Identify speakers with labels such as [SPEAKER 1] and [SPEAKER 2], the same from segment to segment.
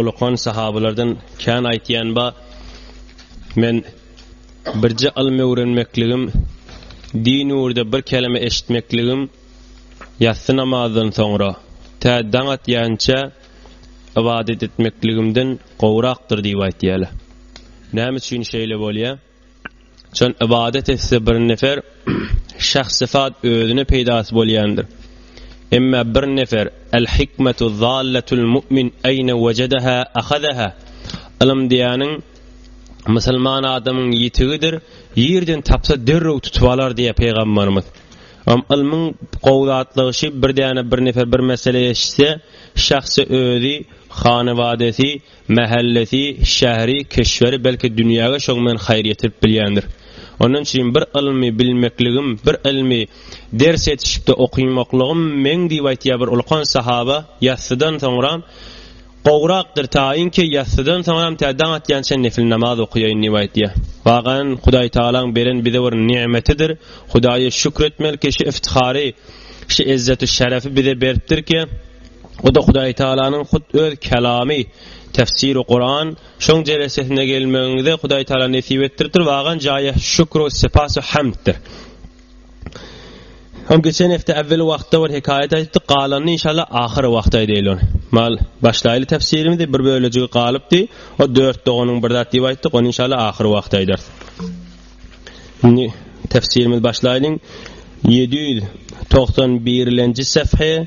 [SPEAKER 1] Ulukan sahabalardan kän aýtýan ba men birje ylm öwrenmekligim din ýurda bir kelime eşitmekligim ýassy namazdan soňra tä daň atýança ibadet etmekligimden gowrakdyr diýip aýtýarlar. Näme üçin şeýle bolýar? Şol ibadet etse bir nefer şahs sıfat özüne peýdasy bolýandyr. Emma bir nefer el hikmetu zallatul mu'min ayna wajadaha akhadaha. Ilim diýäniň musulman adamyň ýitigidir. Ýerden tapsa derrew tutup alar diýýär peýgamberimiz. Am ilmiň gowzatlygy şu bir däne bir nefer bir mesele eşitse, şahsy özi, hanawadesi Mähellesi, şäheri, kişweri belki dünýäge şoň bilen haýyr ýetirip bilýändir. Ondan üçin bir ylmy bilmekligim, bir ylmy ders ýetişikde okymaklygym meň diýip aýtýar bir ulkan sahaba, ýassydan soňram gowrakdyr taýynki ýassydan soňram tä daň atýança nefil namaz okaýaýyn diýip aýtýar. Wagan Hudaý Tagalaň beren bize bir nigmetidir. Hudaýa şükür etmeli kişi iftihary, şu ezzet-u şerefi bize beripdirki, O-da Hudaý Tagalanyň hut öz Kalamy, Tefsiri Kuran, şoň jelesesine gelmegiňizi Hudaý Tagala nesip etdiripdir, wagan jaýy şükru sepas we hamddir. Hem geçen hepde äwwel wagtda bir hekaýat aýtdyk, galanyny inşallah ahyr wagtda aýdaýyl ony. Mal başlaýly tefsirimizi bir bölejigi galypdy. O dört doganyň bir zat diýip aýtdyk, ony inşallah ahyr wagtda aýdarys. Indi tefsirimiz başlaýyň. 791-nji säfhe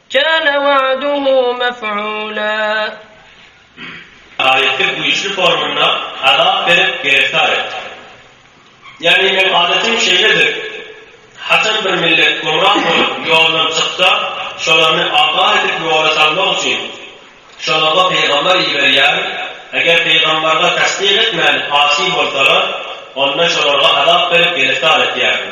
[SPEAKER 2] Kâne wa'duhu mef'ûlâ.
[SPEAKER 3] Aýatda güýçli formynda azap berip gertar etdi. Ýagny meň adatim şeýledir, haçan bir millet gümra bolup ýoldan çyksa, şolaryny abat edip ýola salmak üçin, şolarga pygambar iberýärin, eger pygambarga tassyk etmän asy bolsalar, onda şolarga azap berip gertar etýärin.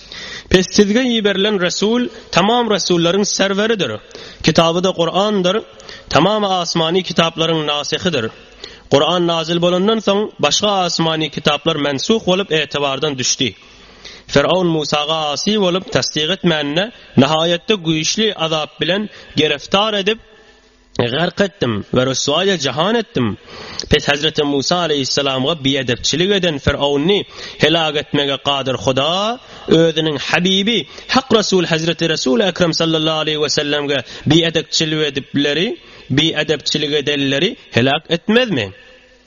[SPEAKER 1] Pes sizge iberilen Resul tamam resullaryň serweridir. Kitaby-da Kurandyr. Tamam asmany kitaplaryň nasyhydyr. Kuran nazil bolandan soň başga asmany kitaplar mensuh bolup etebardan düşdi. Firavun Musaga asy bolup tassyk etmänine nahaýatda güýçli azap bilen gereftar edip, Gark etdim we ryswaýa jahan etdim. Pes Hezreti Musa aleýhissalamga biedepçilik eden Fyrowny helag etmege gadyr Huda Özüniň Habibi, Hak Resul Hezreti Resul-i Ekrem sallallahu aleýhi we sellemge biedekçilik edipleri, biedepçilik edenleri helag etmezmi?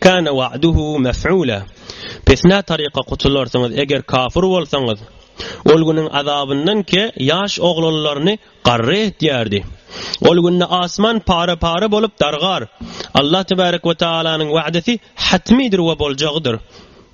[SPEAKER 1] Kana wa'duhu mef'ula. Pesnä taryka gutularsyňyz eger kafyr bolsaňyz. Ol günüň azabyndan ke ýaş oglanlaryny garry etýärdi. Ol günde asman para-para bolup dargar. Allah tebarek we taalanyň wa'desi hatmydyr we boljagydyr.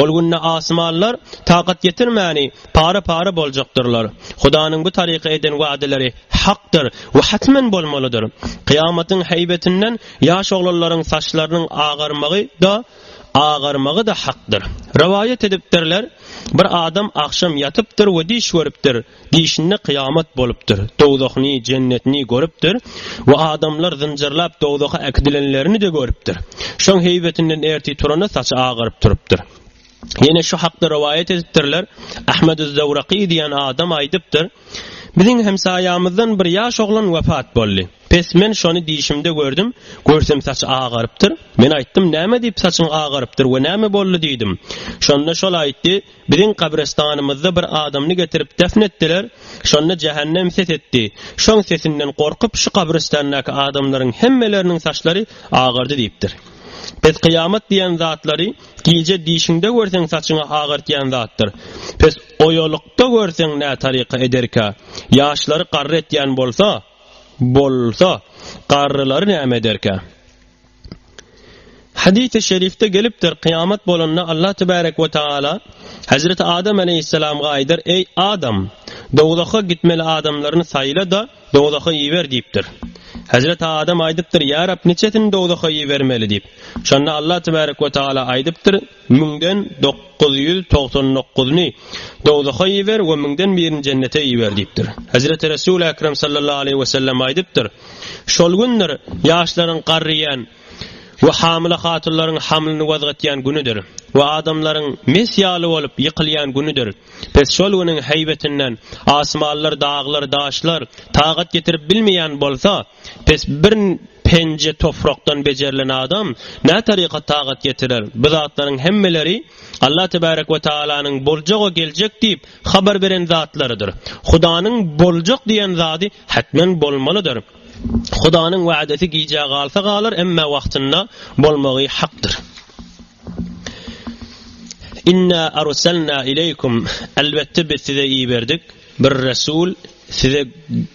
[SPEAKER 1] Ol günde asmanlar takat ýetirmäni para-para boljakdyrlar. Hudanyň bu taryka eden wadaleri hakdyr we hatmen bolmalydyr. Kyýamatyň heýbetinden ýaş oglanlaryň saçlarynyň agarmagy-da, agarmagy-da hakdyr. Rowaýat edipdirler, Bir adam agşam ýatypdyr we düýş görüpdir. Dişinde kyýamat bolupdyr. Dowzahyny, jennetini görüpdir we adamlar zynjyrlap dowzaha äkidilenlerini-de görüpdir. Şoň heýbetinden ertir turanda saçy agaryp turupdyr. Ýene şu hakda rowaýat edipdirler, Ahmedüz-Zawraky diýen adam aýdypdyr, Biziň hemsaýamyzdan bir ýaş oglan wepat boldy. Pes men şony dişimde gördüm, görsem saçy agarypdyr. Men aýtdym, Näme diýip saçyň agarypdyr we näme boldy diýdim. Şonda şol aýtdy, Biziň gabrestanymyzda bir adamny getirip depn etdiler, şonda jähennem ses etdi. Şoň sesinden gorkup şu gabrestandaky adamlaryň hemmeleriniň saçlary agardy diýipdir. Pes kyýamat diýen zatlary gije dişiňde görseň saçyňy agartýan zatdyr. Pes oýalykda görseň nä taryka ederkä? Ýaşlary garry etýän bolsa, bolsa, garrylary näme ederkä? Hadysy şerifde gelipdir, kyýamat bolanda Allah tebarek we tagala Hezreti Adam aleýhissalamga aýdar, Eý, Adam! Dowzaha gitmeli adamlaryny saýla-da, dowzaha iber diýipdir. Hezreti Adam aýdypdyr, Ýa Rab, niçesini dowzaha ibermeli diýip. Şonda Allah tebarek we tagala aýdypdyr, Müňden dokuz ýüz togsan dokuzyny dowzaha iber we müňden birini jennete iber diýipdir. Hezreti Resul Ekrem sallallahu aleýhi wesellem aýdypdyr, Şol gündir ýaşlaryň garryýan we hamyla hatunlaryň hamlyny wazgatýan günüdir we adamlaryň mes ýaly bolup ýykylýan günüdir. Pes şol günüň heýbetinden asmanlar, daglar, daşlar tagat getirip bilmeýän bolsa, Pes bir penje tofrakdan bejerilen adam nä taryka tagat getirer? Bu zatlaryň hemmeleri Allah tebarek we taalanyň boljak we geljek diýip habar beren zatlarydyr. Hudanyň boljak diýen zady hetmen bolmalydyr. Hudanyň wädesi gijä galsa galar, emma wagtynda bolmagy hakdyr. Inna arsalna ileýkum elbetde biz size iberdik bir resul size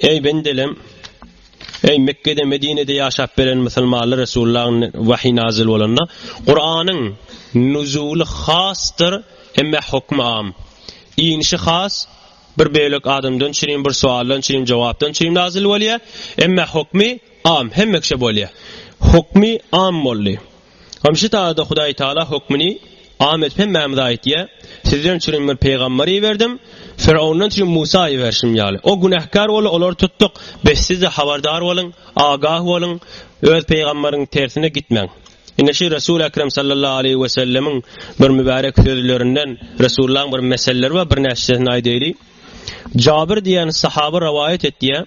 [SPEAKER 1] Eý bendelem, eý Mekgede, Medinede ýaşap beren musulmanlar Resulullahyň wahyý nazyl bolanda, Kuranyň nuzuly hasdyr, emme hukmy am, inişi has, bir bölek adamdan çürin, bir sualdan çürin, jogapdan çürin nazyl bolýar, emme hukmy am, hemme kişä bolýar. Hukmy am boldy. Gamşy dagda Hudaý Tagala hökmüni am edip hemmämize aýtýar, Sizden üçin bir pygamber iberdim, Firawundan üçin Musa iberşim ýaly. O günäkär boldy, olary tutduk. Bes siz-de habardar boluň, agah boluň, öz pygamberiň tersine gitmäň. Ine şu Resul Ekrem sallallahu aleýhi we sellemiň bir mübärek sözlerinden, Resullaň bir meselleri bar, birnäçesini aýdaýly. Jabir diýen sahaba rowaýat etýär.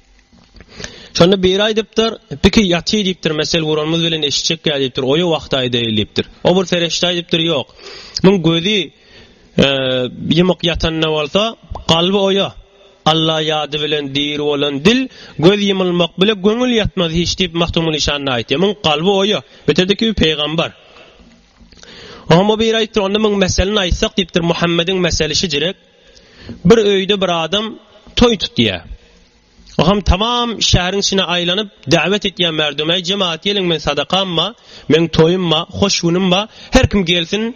[SPEAKER 1] Şonda biri aýdypdyr, biki ýaty diýipdir, mesel guranymyz bilen eşitjek ýa diýipdir, oýa wagty aýdaýyl diýipdir. O bir ferişde aýdypdyr, ýok. Muň gözi e, ýymyk ýatanda bolsa, kalby oýa. Alla ýady bilen diri bolan dil, göz ýymylmak bile göňül ýatmaz hiç diýip Mahtumul Işan aýtýar. Muň kalby oýa. Bitirdi-ki peýgamber. Oňa biri aýdypdyr, onda muň meselini aýtsak diýipdir, Muhammediň meseli şijirek. Bir öýde bir adam toý tutýar. Oham tamam şäheriň içine aýlanyp däwet etýär merdum, Äý jemaat geliň men sadakam ba, meň toýum ba, hoş günüm ba, her kim gelsin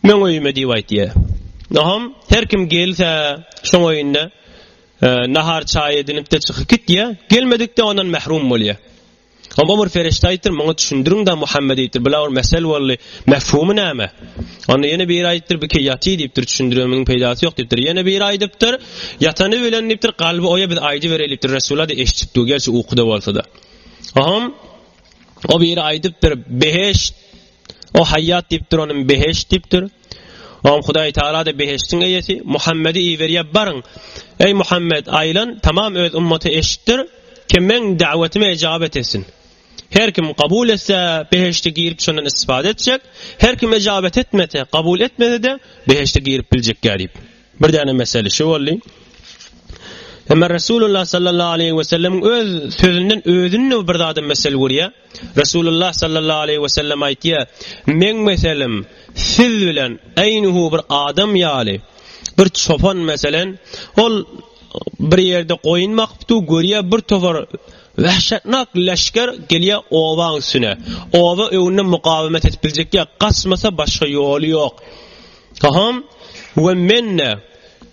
[SPEAKER 1] meň öýüme diýip aýtýar. Oham her kim gelse şoň öýünde nahar çaý edinipde çykyp gitýär. Gelmedikde ondan mährum bolýar. Onda Ömer Ferişte aýtdyr, muňa düşündiriň-dä Muhammed diýipdir. Bula bir mesel boldy. Mefhumy näme? Onda ýene biri aýtdyr, bu ki ýaty diýipdir, düşündirmegiň peýdasy ýok diýipdir. Ýene biri aýdypdyr, ýatany bilen diýipdir, kalby oýa biz aýdy bereýlipdir. Resulada eşitipdi, gerçi ukuda bolsa-da. Ohm, o biri aýdypdyr, beheşt, o haýýat diýipdir, onuň beheşt diýipdir. Oň Hudaý Tagala-da behiştiň eýesi Muhammedi iberýär, baryň, eý, Muhammet, aýlan, tamam öz ymmaty eşitdir, kim meň da'watyma ejaba etesin. Her kim kabul etse, behişte girip şondan istifade etjek, her kim ejabet etmese, kabul etmese-de, behişte girip biljek-ýa diýip. Bir däne mesele şu boldy. Emma Resulullah sallallahu aleyhi ve sellem öz sözünden özünü bir zaten mesele görýär. Resulullah sallallahu aleyhi ve sellem aýtýar, "Men meselem siz bilen eýnuhu bir adam ýaly, bir çopan meselen, ol bir ýerde goýun bakypdy, görýär bir towar Wahşatnak leşger gelýär owaň üstüne. Owa öwünde mukawemet edip biljek ýa, gaçmasa başga ýoly ýok. Haham we men-de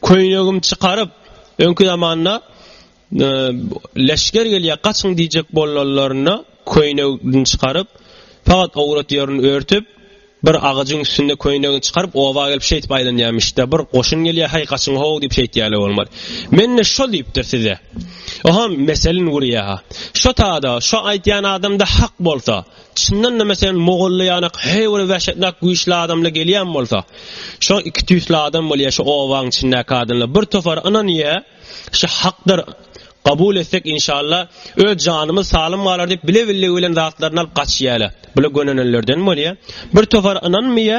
[SPEAKER 1] köýnegimi çykaryp, öňki zamanda e, leşger gelýär, gaçyň diýjek bolanlarynda köýnegini çykaryp, fakat owrat ýerini örtüp, bir agajyň üstünde köýnegini çykaryp, oba gelip şeýtip aýlanýarmyş-da, bir goşun gelýär, haý gaçyň ho diýip şeýtýärler bolmaz. Men-de şol diýipdir size. Haham meselin gurýar. Şo tada, şo aýtýan adam-da hak bolsa, Çyndanda meselem mogolly ýanak her bir wäşetnak güýçli adamla gelýän bolsa şo iki tüýsli adam bolýa şo obaň içindäki adamlar bir topar ynanýa şo hakdyr gabul etsek inşalla öz janymyz salym galar diýip bile billigi bilen zatlaryny alyp gaçýala bula gönenenlerden bolýa bir topar ynanmýa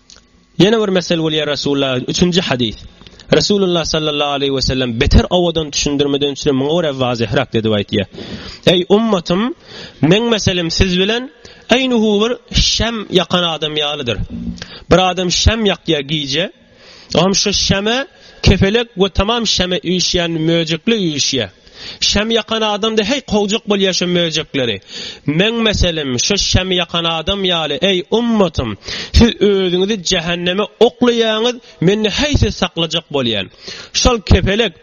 [SPEAKER 1] Ýene bir mesel bolýar Resulullah üçünji hadys. Resulullah sallallahu aleyhi ve sellem beter owadan düşündirmeden üçin muňa göre vazihrak dedi aýtýar. Ey ummatym, meň meselim siz bilen eýnuhu bir şem ýakan adam ýalydyr. Bir adam şem ýakýar gije, Oňa şu şeme kefelek we tamam şeme üýşýän möjekli üýşýär. Şam ýakan adamda heý kowjak bol ýaşa möjekleri. Meň meselem şu şam ýakan adam ýaly eý ummatym siz özüňizi jähenneme oklaýaňyz mende heý siz saklajak bolýan. Şol kepelek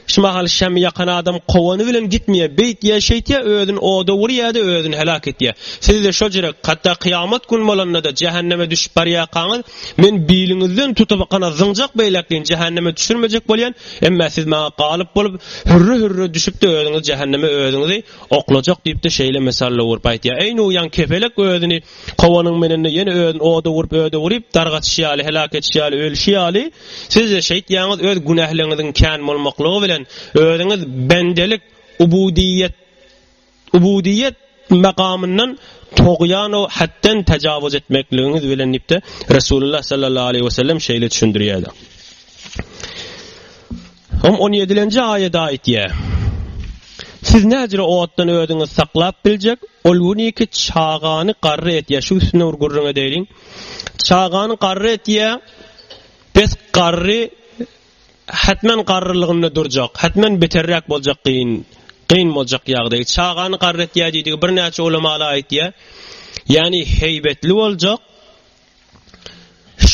[SPEAKER 1] şu mahal şam ýakan adam kowany bilen gitmeýä beýt ýa şeýtýä özün oda urýada özün helak etýä. Sizde şo jürek hatda kyýamat gün bolanda da jähenneme düşüp barýakaňyz Men biliňizden tutup gana zyňjak beýläk deýin jähenneme düşürmejek bolýan, emma siz maňa galyp bolup, hürre-hürre düşüp-de özüňiz jähenneme özüňizi oklajak diýip-de şeýle mesalle urup aýtýar. Eý Nuh ýaň kepelek özüni kowanyň menende ýene özüni oda urup öde uryp dargaçyş ýaly heläk etişi ýaly ölüşi ýaly sizde şeýtýäňiz öz günähleriňiziň kän bolmaklygy bilen özüňiz bendelik, ubudyýet, Ubudyýet makamyndan togýan o hetden tajawuz etmekligiňiz bilen diýipde Resulullah sallallahu aleyhi ve sellem şeýle düşündirýärdi. Hom 17-nji aýada aýtýa. Siz näjre otdan özüňiz saklap biljek, ol güni ki çagany garry etýä, şu üstüne bir gürrüň edeýin. Çagany garry etýä, pes garry Hetmen garrylygynda durjak, hetmen beterräk boljak gyn, gyn boljak ýagdaý. Çagany garry etýär diýdigi birnäçe ulamalar aýtýar. Ýagny heýbetli boljak.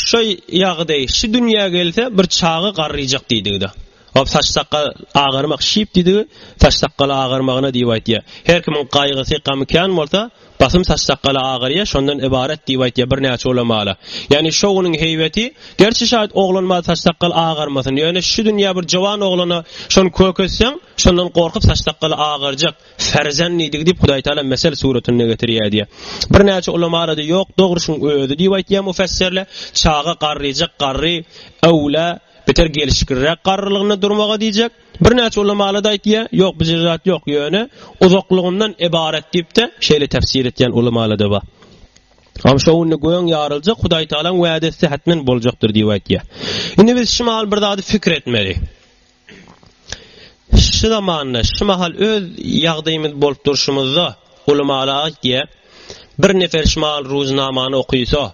[SPEAKER 1] Şu ýagdaý, şu dünýä gelse bir çaga garryjak diýdigi-de. Ol saç sakal agarmak şyp diýdigi, saç sakal agarmagyna diýip aýtýar. Her kimiň gaýgysy, gamy kän bolsa, Basym saç-sakgaly agyrýa, şondan ybarat diýip aýtýa birnäçe ulamaly. Ýagny şo günüň heýbeti, gerçi şaýt oglanymaz saç-sakgal agarmasyn, ýöne şu dünýä bir jowan oglana şony köketseň, şondan gorkup saç-sakgaly agarjak, ferzenlidigi diýip Hudaýtagala mesel suratynda getirýär diýýä. Birnäçe ulamala-da ýok, dogry şuň özi diýip aýtýa mufessirle, çaga garryjak, garry, öwla, beter gelşikliräk garrylygynda durmaga diýjek. Birnäçe ulamalarda aýtýar, ýok bijil zat ýok, ýöne uzaklygyndan ybarat diýip-de şeýle täfsir etýän ulamalarda bar. Am şo günde göň ýaryljak, Hudaý Tagalaň wädesi hätmen boljakdyr diýip aýtýar. Indi biz şu mahal bir zady pikir etmeli. Şu zamanda, şu mahal öz ýagdaýymyz bolup durşumyzda ulamalar aýtýar, bir nefer şu mahal Ruznamany okysa,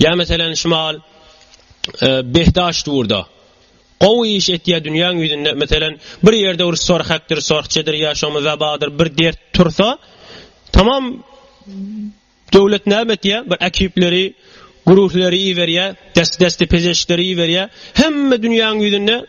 [SPEAKER 1] Ýa meselen şumal behdaş durda. Gowy iş etýä dünýäň ýüzünde meselen bir ýerde bir sorhakdyr, sorhçedir ýa şomy zabadyr bir dert tursa tamam döwlet näme etýä bir ekipleri guruhleri iberýä dest desti pezeşleri iberýä hemme dünýäň ýüzünde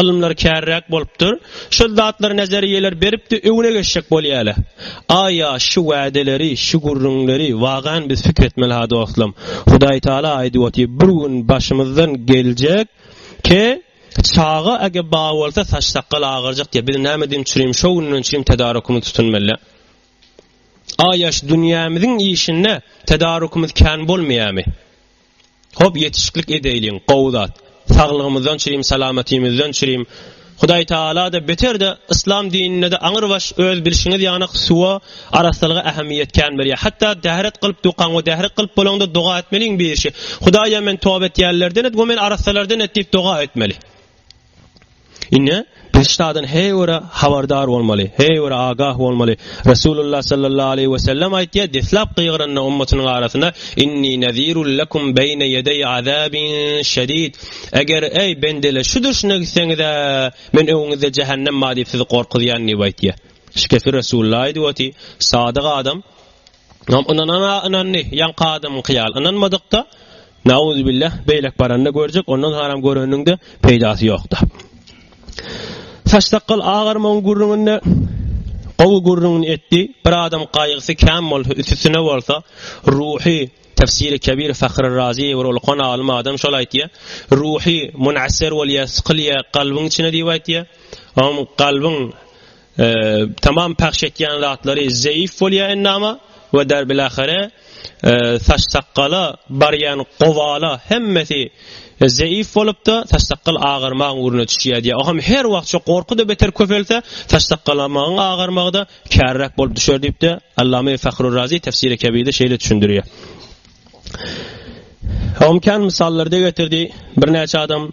[SPEAKER 1] Ylymlar kärräk bolupdyr. Şol zatlar nazariýeler beripdi öňüne geçjek bolýaly. Aýa şu wädeleri, şu gürrüňleri wagan biz pikir etmeli ha dostlam. Hudaý Taala aýdyp otyr bir gün başymyzdan geljek ki çaga ege ba bolsa saç sakgal agyrjak diýe biz näme diýim çürim şo günden çürim tedarukymyz tutunmeli. Aýa şu dünýämiziň işinde tedarukymyz kän bolmaýamy? Hop ýetişiklik edeýliň gowy zat. Saglygymyzdan çürim salamatymyzdan çürim. Hudaý Taalada beterde yslam dinindede aňyr baş öz bilşiňiz ýaňak suwa arassalyga ähemiýet kän berýär. Hatda dähret gylyp dukan we dähret gylyp bolaňda doga etmeliň birişi. Hudaýa men toba etýänlerden et we meni arassalardan et diýip doga etmeli. Ine, biz şadan heý göre habardar bolmaly, heý göre agah bolmaly. Resulullah sallallahu aleýhi we sellem aýtýar, deslap gygyranda ummatynyň arasyna, Inni nazirul lakum beýne ýedeý azabin şedid. Eger eý bendeler şu duşuna gitseňiz-ä, men öňüňizde jähennem bar diýip sizi gorkuzýan diýip aýtýar. Şikefi Resulullah aýdyp oty, sadyk adam Ynam ynanana ynandy ýaňky adamyňky ýaly ynanmadykda Nauzübillah beýlek baranda görjek ondan haram göreniňde peýdasy ýokda. Saç sakgal agarmagyň gürrüňinde gowy gürrüňini etdi. Bir adam gaýgysy kän bolsa, üstüne bolsa, ruhy Tefsiri Kebir Fahri Razi bir ulkan alim adam şol aýtýa. Ruhy munasir bolýa, sykylýa, kalbyň içine diýip aýtýa. Oň kalbyň e, tamam pahş etýän zatlary zeýif bolýar endama we derbil ahire e, saç sakgala barýan gowala hemmesi e, zeýif bolupda saç sakgal agyrmaň uruna düşýär diýär. Oňam her wagt şu gorky da beter köpelse saç sakgalamagyň agyrmagy da kärräk bolup düşer diýipdi. Allama Fahrur Razi tefsiri kebide şeýle düşündirýär. Omkan misallarda getirdi. Birnäçe adam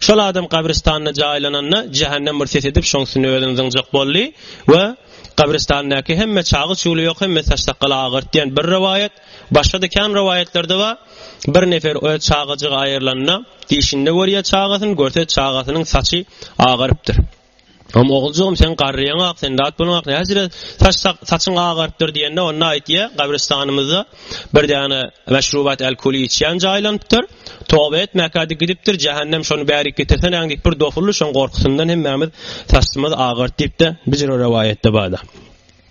[SPEAKER 1] Şol adam gabrystanda jaýlananda, jähennem bir ses edip, şoň üstüne özüni zyňjak boldy we gabrystandaky hemme çagy çuly ýok, hemme saç-sakgaly agyrt diýen bir rowaýat, başga-da kän rowaýatlarda bar. Bir nefer öz çagajygy aýrylanda, dişinde görýär çagasyny, görse çagasynyň saçy agarypdyr. Hom oguljygym seň garryýaň ak sen dat boluň ak näjire saç saçyň agarypdyr diýende onda aýtýa gabristanymyzda bir däne meşrubat al kuli içýän jaýlanypdyr toba et mäkädi gidipdir jähennem şony bärik getirseneň diýip bir dofuldy şoň gorkusyndan hemmamiz saçymyz agaryt diýipde bijir o rowaýatda barda.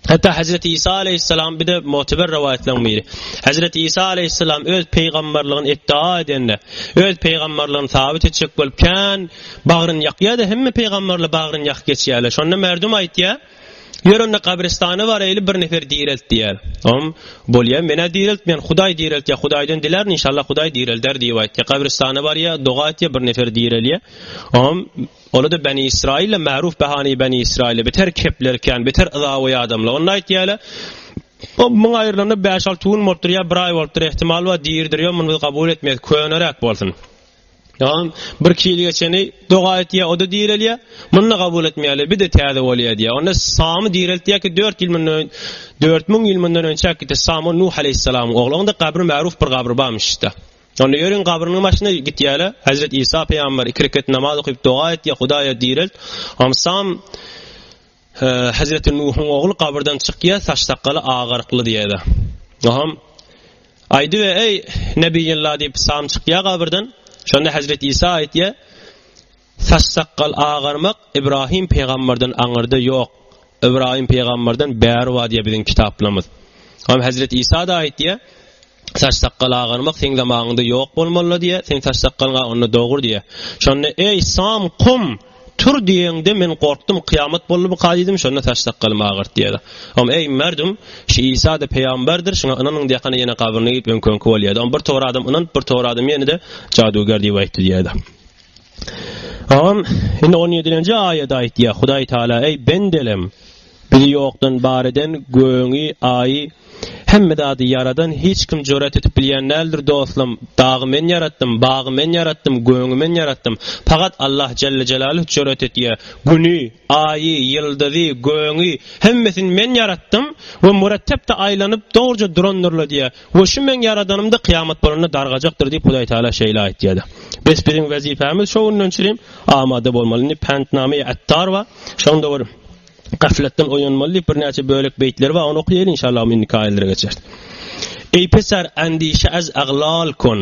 [SPEAKER 1] Hatda Hezreti Isa aleýhissalam bir-de möteber rowaýatlaryň biri. Hezreti Isa aleýhissalam öz peýgamberligini iddia edende, öz peýgamberligini sabyt etjek bolup kän bagryny ýakýar-da, hemme peýgamberler bagryny ýakyp geçýärler. Şonda merdum aýtýar, Ýör onda gabristana baraýly bir nefer direlt diýýär. Oňam, Bolýar, men-ä direltmeýän, Hudaý direltýär, Hudaýdan dilärin, inşallah Hudaý direlder diýip aýtýar. Gabristana barýar, doga etýär, bir nefer direlýär. Oňam, Ony-da Beni Israyl-la Ma'ruf Bahany Beni Israyl-la biter kepler kän, biter yzawy adamlar. Onda aýtýarlar, O muň aýrylanda bäş-alty gün bolupdyr ýa bir aý bolupdyr, ähtimal bar, diridir, ýok, muny biz kabul etmeýäs, köneräk bolsun. Ýa-da bir-iki ýyl geçeni doga etýär, o-da direlýär, muny da kabul etmeýärler, bir-de täze bolýar diýýär. Onda Samy direltýär ki, dört ýyl mundan öň, dört müň ýyl mundan önçäk gitdi, Sam, o Nuh aleýhissalamyň ogly, onuň-da gabry Ma'ruf bir gabry barmyş-da. Onda ýörüň gabrynyň başyna gitýäle, Hezret Isa pygamber iki rekat namaz okyp doga etýä, Hudaýa direlt. Amsam Hezreti Nuhuň ogly gabyrdan çykýa, saç sakgaly agarykly diýäle. Noham Aýdy we eý Nebiyillah diýip sam çykýa gabyrdan. Şonda Hezret Isa aýtýa, Saç-sakgal agarmak Ibrahim Pygamberden aňyrda ýok. Ibrahim Pygamberden bäri bar diýýär biziň kitaplarymyz. Hem Hezreti Isa-da aýtýar, Saç-sakgal agarmak seň zamanyňda ýok bolmalydy diýýär, seň saç-sakgalyň a onda dogry diýýär. Şonda eý Sam kum, tur diýeňde men gorkdum, kyýamat boldy bu ka diýdim, şonda saç-sakgalymy agyrt diýýär. Hem eý merdum, şu Isa-da Pygamberdir, şuňa ynanyň diýýärkana ýene gabryna gidip öňki-öňki bolýar. Hem bir tor adam ynanyp, bir tor adam ýene-de jadugär diýip aýtdy diýýär. Agam, indi on ýedilenji aýat aýtýar, Hudaý Tagala, Eý, bendelem, Bizi ýokdan bar eden, gögüňi, Aýy, hemme zady ýaradan hiç kim jüret edip bilýän däldir, dostlam, dagy men ýaratdym, bagy men ýaratdym, gögüňi men ýaratdym. Pagat Allah jelle jelaluh jüret edýär, Güni, Aýy, ýyldyzy, gögüňi, hemmesini men ýaratdym we mürettepde aýlanyp, dogruja durandyrlar diýýär. We şu meň ýaradanymda kyýamat bolanda dargajakdyr diýip Hudaý Tagala şeýle aýtýardy. Bes biziň wezipämiz şo günden çirim amada bolmaly. Indi Päntnamyýe Attar bar. Şonda bir gaflatdan oýanmaly diýip birnäçe bölek beýtleri bar. Ony okaýaýyl inşallah indiki aýatlara geçeris. Eý pesar andişe az aglal kon.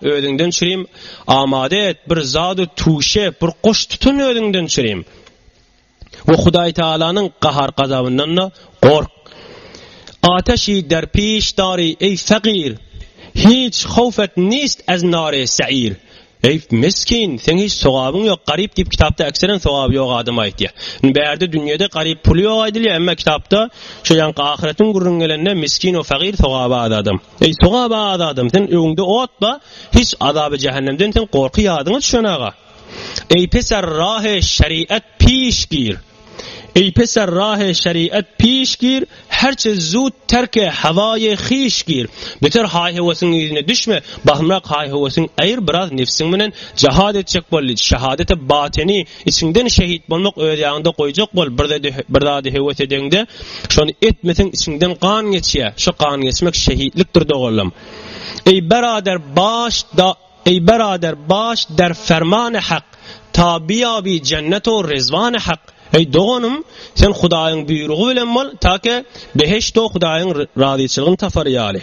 [SPEAKER 1] Özüňden çirim amade et, bir zady tuşe, bir goş tutun özüňden çirim. We Hudaý Tagalanyň gahar-gazabyndan-da gork. Ateşi derpiş dari, eý fagir! Hiç howf et nist ez nare seir! Eý miskin, seň hiç sogabyň ýok, garyp diýip kitapda ekseren sogaby ýok adam aýtýar. Indi bärde dünýede garyp puly ýok aýdylýar, emma kitapda şo ýaňky ahyretiň gürrüňi gelende miskin we fagir sogaby az adam. Eý, sogaba az adam, seň öňüňde ot bar, hiç azaby-jähennemden seň gorky ýadyňa düşen aga. Eý, peser rahy şeriat piş gir! Eý, peser rahy şeriat piş gir, herçe zut terke hawaýy hiş gir! Beter haý-hewesin yzyna düşme, bahymrak haý-hewesin aýyr biraz nefsiň bilen jahad etjek boldy, şehadete bateni, Içiňden şehit bolmak öz ýaňyňda goýjak bol bir zady höwes edeňde şony etmeseň içiňden gan geçýä şu gan geçmek şehitlikdir doganlam Eý berader baş da Eý berader baş der fermany hak tabiýabi jennet o rezwany hak Eý doganym sen hudaýyň buýrugy bilen bol take beheşt o hudaýyň razyçylygyny tapar ýaly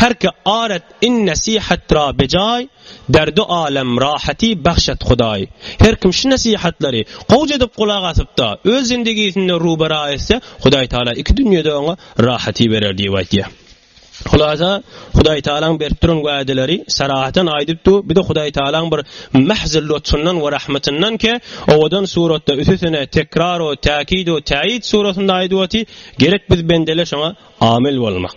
[SPEAKER 1] herki aret Iň nesihatdyr-a bejaý, Derdi alem rahaty bagş et Hudaý. Her kim şu nesihatlary gowja edip gulak asyp-da, öz zindigisinde rubera etse, Hudaý Tagala iki dünýede oňa rahaty berer diýip aýtýar. Hulasa, Hudaý Tagalaň berip duran wädeleri sarahatan aýdyp dur, bir-de Hudaý Tagalaň bir mähzi lutfyndan we rahmatyndan ki, owadan suratda üsesine tekrar-u täkid-u täýid suratynda aýdyp otyr, gerek biz bendeler şoňa amil bolmak.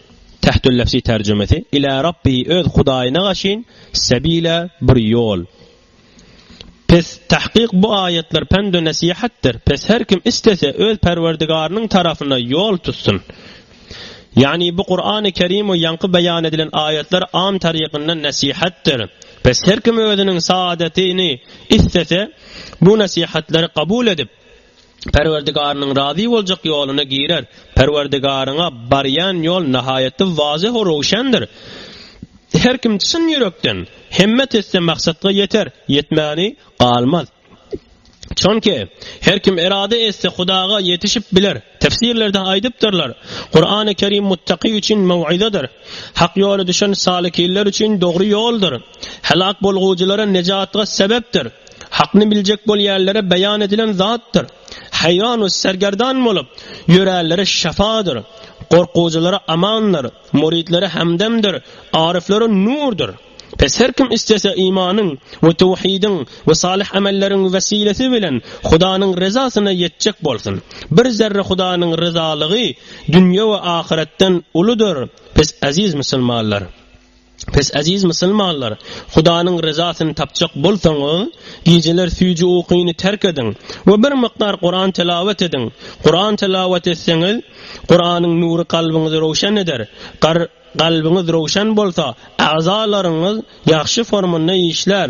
[SPEAKER 1] Tähtüllefzi terjimesi, Ilâ Rabbihi öz Hudaýyna gaşyn, sebîlâ, bir ýol. Pes, tahkyk bu aýatlar pend we nesihatdyr. Pes her kim islese öz Perwerdigarynyň tarapyna ýol tutsun. Ýagny bu Kur'an-y Kerim we ýaňky beýan edilen aýatlar am tarykyndan nesihatdyr. Pes her kim özüniň saadetini islese bu nesihatlary kabul edip, Perwerdigarynyň razy boljak ýoluna girer. Perwerdigaryňa barýan ýol nahaýatda wazyh-u röwşendir. Her kim çyn ýürekden hemmet etse maksatga ýeter, ýetmäni galmaz. Çonki, her kim erada etse Hudaga ýetişip biler. Tefsirlerde aýdypdyrlar, Kurany Kerim muttaky üçin möw'izadyr. Hak ýola düşen salikinler üçin dogry ýoldur. Helak bolgujylara nejatga sebepdir. Hakny biljek bolýanlara beýan edilen zatdyr. Haýwan we sergerdan bolup, ýöränlere şefadyr. Gorkujylara amandyr, muridlere hemdemdir, aryflara nurdyr. Pes her kim islese imanyň we töwhidiň we salyh amelleriň wesilesi bilen Hudanyň ryzasyna ýetjek bolsun. Bir zerre Hudanyň ryzalygy dünýe we ahyretden uludyr, pes eziz musulmanlar! Pes eziz musulmanlar, Hudanyň ryzasyny tapjak bolsaňyz, gijeler süýji ukyny terk ediň we bir mukdar Kuran tilawet ediň. Kuran tilawet etseňiz, Kuranyň nury kalbyňyzy röwşen eder. Gar, kalbyňyz röwşen bolsa, agzalaryňyz ýagşy formynda işlär.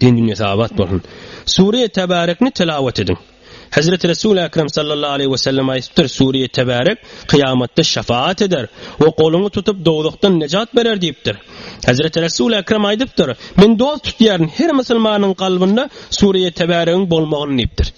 [SPEAKER 1] Din dünýäsi abat bolsun. Sure Tebarekni telawat ediň. Hezreti Resul Ekrem sallallahu aleyhi ve sellem aýdypdyr, Sure Tebarek kyýamatda şefaat eder we goluňy tutup dowzahdan nejat berer diýipdir. Hezreti Resul Ekrem aýdypdyr, Men dost tutýaryn her musulmanyň kalbynda Sure Tebaregiň bolmagyny diýipdir.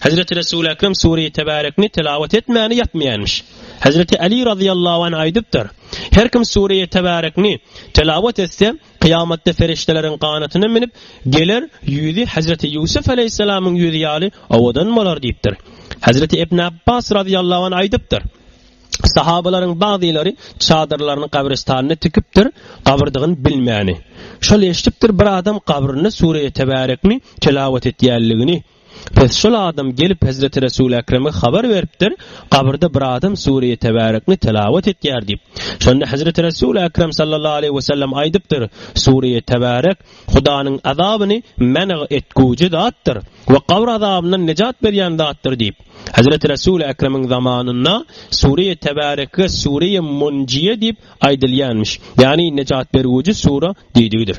[SPEAKER 1] Hezreti Resul Ekrem Sure Tebarekni telawat etmäni ýatmaýanmyş. Hezreti Ali razyýallahu anh aýdypdyr, Her kim Sure Tebarekni telawat etse, Kyýamatda perişdeleriň ganatyna münüp geler, ýüzi hezreti Ýusuf aleýhissalamyň ýüzi ýaly owadan bolar diýipdir. Hezreti Ibn Apbas razyýallahu anh aýdypdyr, Sahabalaryň bagzylary çadyrlaryny gabrystanda tikipdir, gabyrdygyny bilmäni. Şol eşidipdir bir adam gabrynda sure-i tebärekni tilawat etýänligini. Pes şol adam gelip hezreti Resul Ekreme habar beripdir, gabyrda bir adam Sure-i Tebarekni telawat etýär diýip. Şonda hezreti Resul Ekrem sallallahu aleýhi we sellem aýdypdyr, Sure-i Tebarek Hudanyň azabyny men'g etgüji zatdyr we gabyr azabyndan nejat berýän zatdyr diýip. Hezreti Resul Ekremiň zamanynda Sure-i Tebareke Sure-i Munjiýe diýip aýdylýanmiş, ýagny nejat bergüji sure diýdigidir.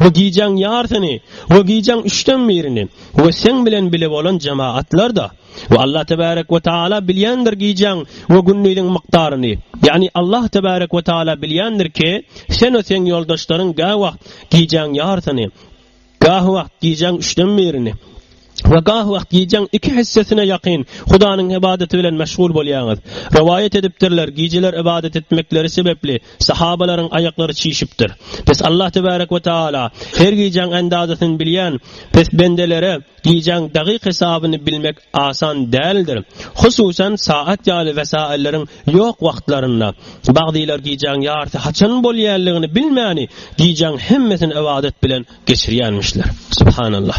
[SPEAKER 1] we gijäň ýarsyny we gijäň üçden birini we seň bilen bile bolan jemaatlar-da we Allah tebärek we taala bilýändir gijäň we gündiziň mukdaryny, ýagny Allah tebärek we taala bilýändir ki, sen we seň ýoldaşlaryň gäwagt gijäň ýarsyny, gäwagt gijäň üçden birini, we gah wagt gijäň iki hessesine ýakyn Hudanyň ybadaty bilen meşgul bolýaňyz. Rowaýat edipdirler, gijeler ybadat etmekleri sebäpli sahabalaryň aýaklary çişipdir. Pes Allah tebarek we taala her gijäň andazasyny bilýän, pes bendelere gijäň dagyk hesabyny bilmek asan däldir. Hususan saat ýaly wesailleriň ýok wagtlarynda. Bagdylar gijäň ýarysy haçan bolýanlygyny bilmäni gijäň hemmesini ybadat bilen geçirýänmişler. Subhanallah.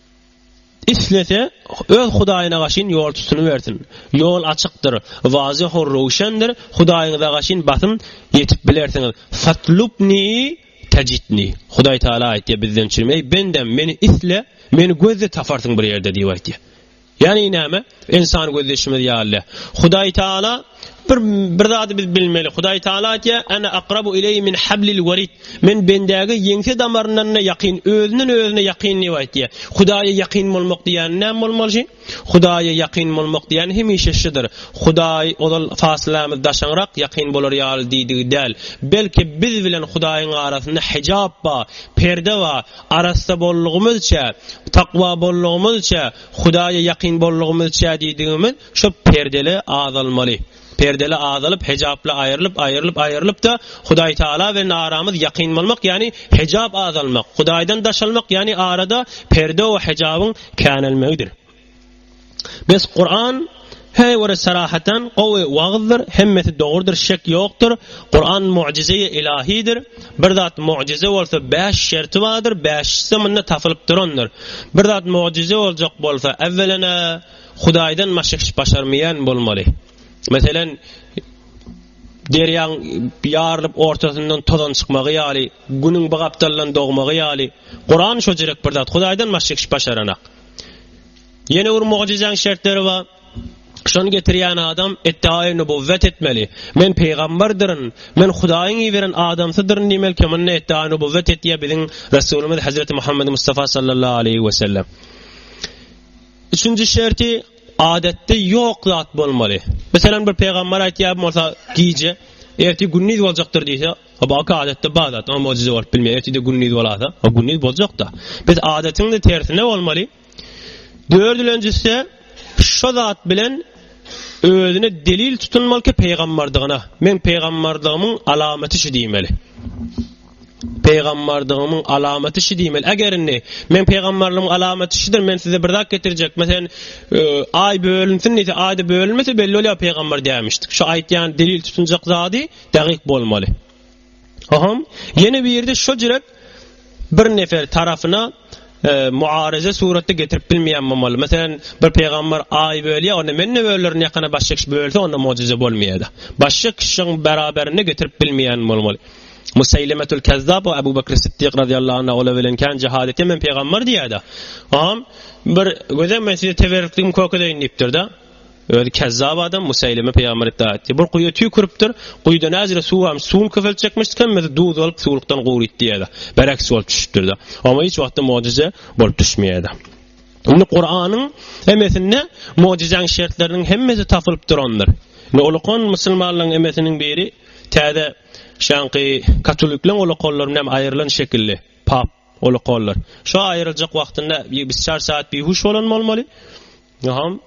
[SPEAKER 1] Islese, öz Hudaýyna gaşyn ýol tutunybersin. Ýol açykdyr, wazyh-u röwşendir, Hudaýyňyza gaşyn basym ýetip bilersiňiz. Fatlubni tajidni. Hudaý Tagala aýtýar bizden çürim, Eý, bendem, Meni isle, Meni gözle, taparsyň bir ýerde diýip aýtýar. Ýagny näme? Ynsan gözýeşimiz ýaly. Hudaý Taala bir bir zady biz bilmeli. Hudaý Taala aýtýar: "Ana akrabu ileýi min hablil warid." Men bendäge ýeňse damaryndan-da ýakyn, özünden özüne ýakyn diýip aýtýar. Hudaýa ýakyn bolmak diýýän näme bolmaly şi? Hudaýa ýakyn bolmak diýýän hemişe şudur. Hudaý ozal fasylamyz daşaňrak ýakyn bolar ýaly diýdigi däl. Belki biz bilen Hudaýyň arasynda hijap bar, perde bar. Arassa bollugymyzça, takwa bollugymyzça, Hudaýa ýakyn bollugymyzça diýdigimiz şo perdeli azalmaly. Perdeli azalyp, hejaply aýrylyp, aýrylyp, aýrylyp-da, Hudaý Tagala bilen aramyz ýakyn bolmak, ýagny hejap azalmak, Hudaýdan daşalmak, ýagny arada perde we hejabyň känelmegidir. Bes Kur'an Heý wara sarahatan gowy wagyzdyr hemmesi dogrudyr şek ýokdyr Kur'an mu'jizeýi ilahidir bir zat mu'jize bolsa bäş şerti bardyr bäşisem munda tapylyp durandyr bir zat mu'jize boljak bolsa äwwelena Hudaýdan başga hiç başarmaýan bolmaly meselen derýaň ýarylyp ortasyndan tozan çykmagy ýaly günüň bu gapdaldan dogmagy ýaly Kur'an şo jerek bir zat Hudaýdan başga hiç başaranak. Ýene bir mugjyzaň şertleri bar. Şony getirýän adam eddaýy nubowwat etmeli. Men pygamberdiriň, men Hudaýyň iberen adamsydyryn diýmeli kim onda eddaýy nubowwat etýär biziň Resulymyz Hazreti Muhammedi Mustafa sallallahu aleýhi we sellem. Üçünji şerti adatda ýok zat bolmaly. Meselem bir pygamber aýtýar bolsa gije erti gündiz boljakdyr diýse Hop oka adatda bar zat o mojize bolup bilmeýär ertede gündiz bolasa o gündiz boljakda biz adatyňda tersine bolmaly dördülenjisi şu zat bilen özüne delil tutunmaly ki peýgamberdigine men peýgamberdygymyň alamaty şu diýmeli peýgamberdygymyň alamaty şu diýmeli eger indi men peýgamberligimiň alamaty şudyr men size bir zat getirjek mesen e, aý bölünsin diýse aýda bölünmese belli bolýar peýgamber diýmişdik şu aýtýan delil tutunjak zady Dagyk bolmaly. Ohom, ýene birde şo jirek bir nefer tarapyna muaryza suratda getirip bilmeýän bolmaly. Meselem, bir pygambar aýy bölýär, onda men ne bölürin ýakana başga kişi bölse onda muajiza bolmaýada. Başga kişiň beraberinde getirip bilmeýän bolmaly. Musaylimatul Kazzab we Abu Bakr Siddiq radiyallahu anhu ola bilen kan cihad etdi men peygamber diyada. Am bir göze men size teberrükligim köke deyin diyipdir da. Özi kezzap adam Musaylime pygamber iddia etdi. Bir guýa tüýküripdir. Guýuda näzire suw barmyş. Suwuny köpeltjekmişdik hem bizi duz alyp suwlukdan gury it diýýärdi. Bereksi bolup düşüpdirdi. Ama hiç wagtda mojize bolup düşmeýärdi. Indi Kur'anyň hemmesinde mojizeň şertleriniň hemmesi tapylyp durandyr. Indi ulukan musulmanlaryň hemmesiniň biri täze şanky katolikleň ulukanlaryndan hem aýrylan şekilli pap ulukanlar. Şu aýryljak wagtynda bir çar saat bir huş bolan bolmaly. Ýoham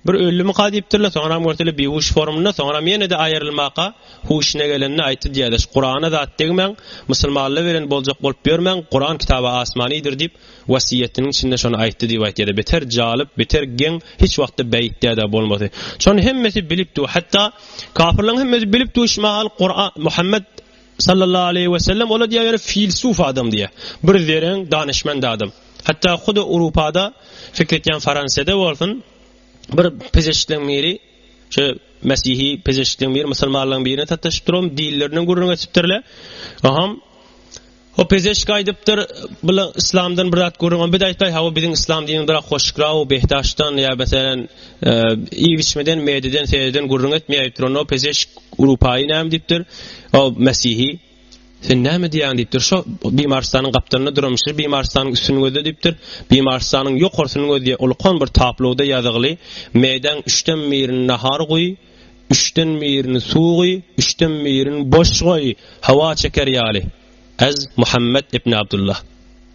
[SPEAKER 1] bir öldümika diýipdirler, soňram görseler bihuş formynda, soňram ýene-de aýrylmaka huşuna gelende aýtdy diýerler, Kurana zat degmäň, musulmanlar bilen boljak bolup ýörmäň, Kuran kitaby asmanydyr diýip, wasiýetiniň içinde şony aýtdy diýip aýtýarlar, beter jalyp, beter geň, hiç wagtda beýtdädä bolmasy. Şony hemmesi bilip dur, hatda kafirleriň hemmesi bilip dur, şu mahal Kuran, Muhammet Sallallahu aleýhi we sellem ola diýýäýer filsuf adam diýýär. Bir zereň, danyşmand adam. Hatda huda Urupada fikir etýän Faransiýada bolsun bir pezeşikleň biri şu mesihi pezeşikleň biri musulmanlaryň birine sataşyp durum dillerinden gürrüň etipdirler. Aham O pezeşik aýdypdyr, bula islamdan bir zat görüň, biz aýtmaý, hawa biziň islam diniň bir hoşgra we behdaşdan ýa meselem, e, iýip içmeden, mededen, seden gürrüň etmeýär, o pezeşik Urupaýy näme diýipdir? O Mesihi Sen näme diýýän diýipdir. Şo Bimarstanyň gapdalynda duran şu Bimarstanyň üstüni gözle diýipdir. Bimarstanyň ýokarsyny gözle ulkan bir tabloda ýazygly Meýdan üçden birini nahar guý, üçden birini suw guý, üçden birini boş goý, hawa çeker ýaly. Ez Muhammed ibn Abdullah.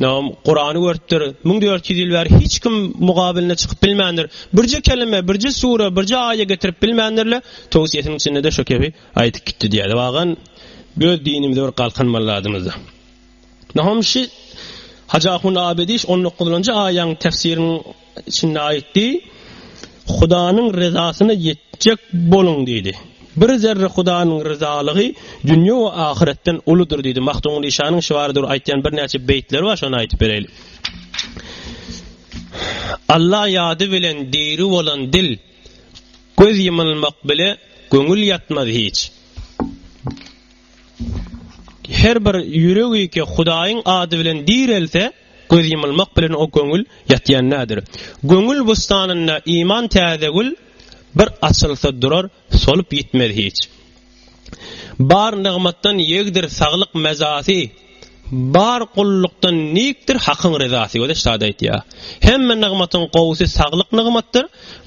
[SPEAKER 1] Nagym, Kurany görüpdir, müň dört ýüz ýyl bäri hiç kim mugabylyna çykyp bilmändir. Birje kelime, birje sure, birje aýe getirip bilmändir-le, towsiýesiniň içinde-de şo kebi aýdyp gitdi diýýärdi. Wagan, öz dinimize bir galkynmaly zadymyzda. Nagym, şi Hajy Ahun Abedi şi on dokuzynjy aýaň tefsiriniň Şunda aýtdy, Hudanyň ryzasyna ýetjek boluň diýdi. Bir zerre Hudanyň ryzalygy dünýe we ahyretden uludyr diýdi. Mahdumy Işanyň şibary dur aýtýan birnäçe beýtleri bar, şony aýdyp bereýli. Alla ýady bilen diri bolan dil, göz ýymylmak bile göňül ýatmaz hiç. Her bir ýüregi ki Hudaýyň ady bilen direlse, Göz ýumulmak bilen o göňül ýatýan nädir. Göňül bussanynda iman täze gül, bir açylsa durar, solup ýitmez hiç. Bar nygmatdan ýegdir saglyk mezasy, bar gullukdan nikdir Hakyň ryzasy. Göze şady aýtýar. Hemme nygmatyň gowusy saglyk nygmatdyr.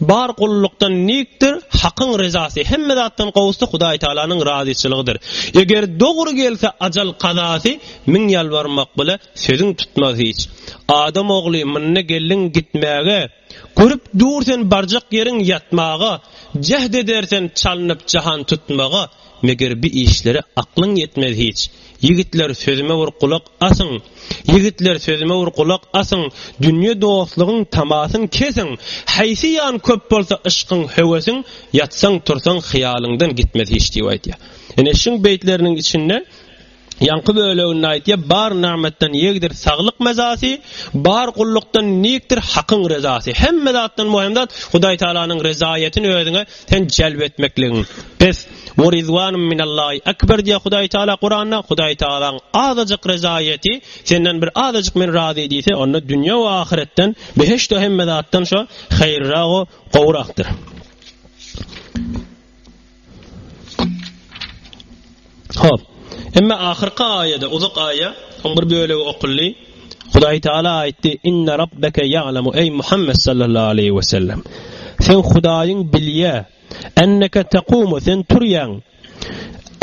[SPEAKER 1] Bar gullukdan nikdir, Hakyň rezasy, hemme zatdan gowusy Hudaý Tagalanyň razyçylygydyr. Eger dogry gelse ajal kazasy, müň ýalbarmak bile sözüň tutmaz hiç. Adam ogly, mynda geldiň gitmäge, görüp dur sen barjak ýeriň ýatmaga, jäht edersen çalnyp jahan tutmaga. Meger bi işlere aklyň ýetmez hiç. Ýigitler sözüme bir gulak asyň! Ýigitler sözüme bir gulak asyň! Dünýe dostlugyň tamasyn kesiň! Haýsy ýan köp bolsa yşkyň, höwesiň, Ýatsaň, tursaň, hyýalyňdan gitmez hiç diýip aýdýar. Ine şuň beýtleriniň içinde Ýaňky böleginde aýtýar, Bar nagmatdan ýegdir saglyk mazasy, bar gullukdan nikdir Hakyň rezasy. Hemme zatdan möhüm zat Hudaý Tagalanyň rezaýatyny özüňe sen jelp etmekligiň. Bes, we rizwanum minallahi akbar diýýär Hudaý Tagala Kuranda, Hudaý Tagalaň azajyk rezaýaty, senden bir azajyk men razy diýse, onda dünýä we ahyretden, behişt we hemme zatdan şo haýyrrak we gowrakdyr. Hop. Emma ahyrky aýada, uzak aýa, oň bir bölegi okuldy. Hudaý Taala aýtdy: "Inna rabbeke ya'lamu ey Muhammed sallallahu aleyhi ve sellem. Sen Hudaýyň bilýä. Enneke taqumu sen turýaň.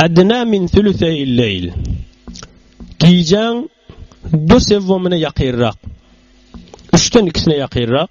[SPEAKER 1] Adna min thuluthayil leyl. Gijäň bir sewwamyna ýakyrrak. Üçden ikisine ýakyrrak.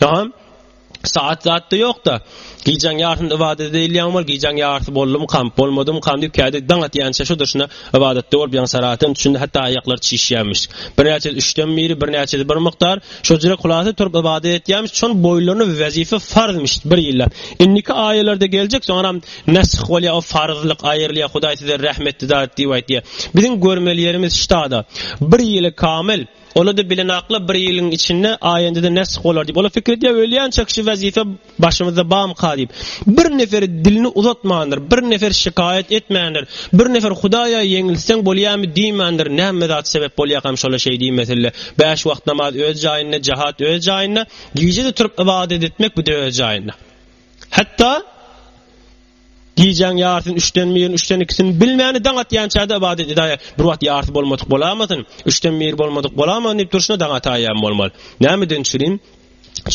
[SPEAKER 1] Dagam saat zatda ýokda. Gijäň ýarysynda ybadat edeýilýän bol, gijäň ýarysy boldumykam, bolmadymykam diýip kädip daň atýança şu durşuna ybadatda bolup ýaňsarasyn, şunda hatda aýaklar çişýämiş. Birnäçesi üçden biri, birnäçesi bir mukdar, şojra kulasa turup ybadat etýämiş, şon boýlaryna wezipe farzmyş bir ýyllap. Indiki aýalarda geljek, soňaram nesih bolýar, o farzlyk aýrylýar, Hudaý size rehmetli zat diýip aýtýar. Biziň görmeli ýerimiz ştada. Bir ýyly kamyl. Ony-da bilenakla bir ýylyň içinde aýanda-da nesg bolar diýip. Olar pikir edýär, ölýänçäk şu wezipe başymyzda bamyka diýip. Bir nefer dilini uzatmandyr, bir nefer şikaýat etmändir, bir nefer Hudaýa ýeňilseň bolýamy diýmändir, näme zat sebäp bolýarkam şola şeý diýmesille. Bäş wagt namaz öz jaýynda, jahat öz jaýynda, gije-de turup ybadat etmek bu-da öz jaýynda. Hatda Gijäň ýarysyn, üçden birini, üçden ikisini bilmäni daň atýançada ybadat edäýýär. Bir wagt ýarysy bolmadyk bolamasyn, üçden biri bolmadyk bolamasyn diýip durşuna daň ataýýam bolmaly. Nämeden çürin?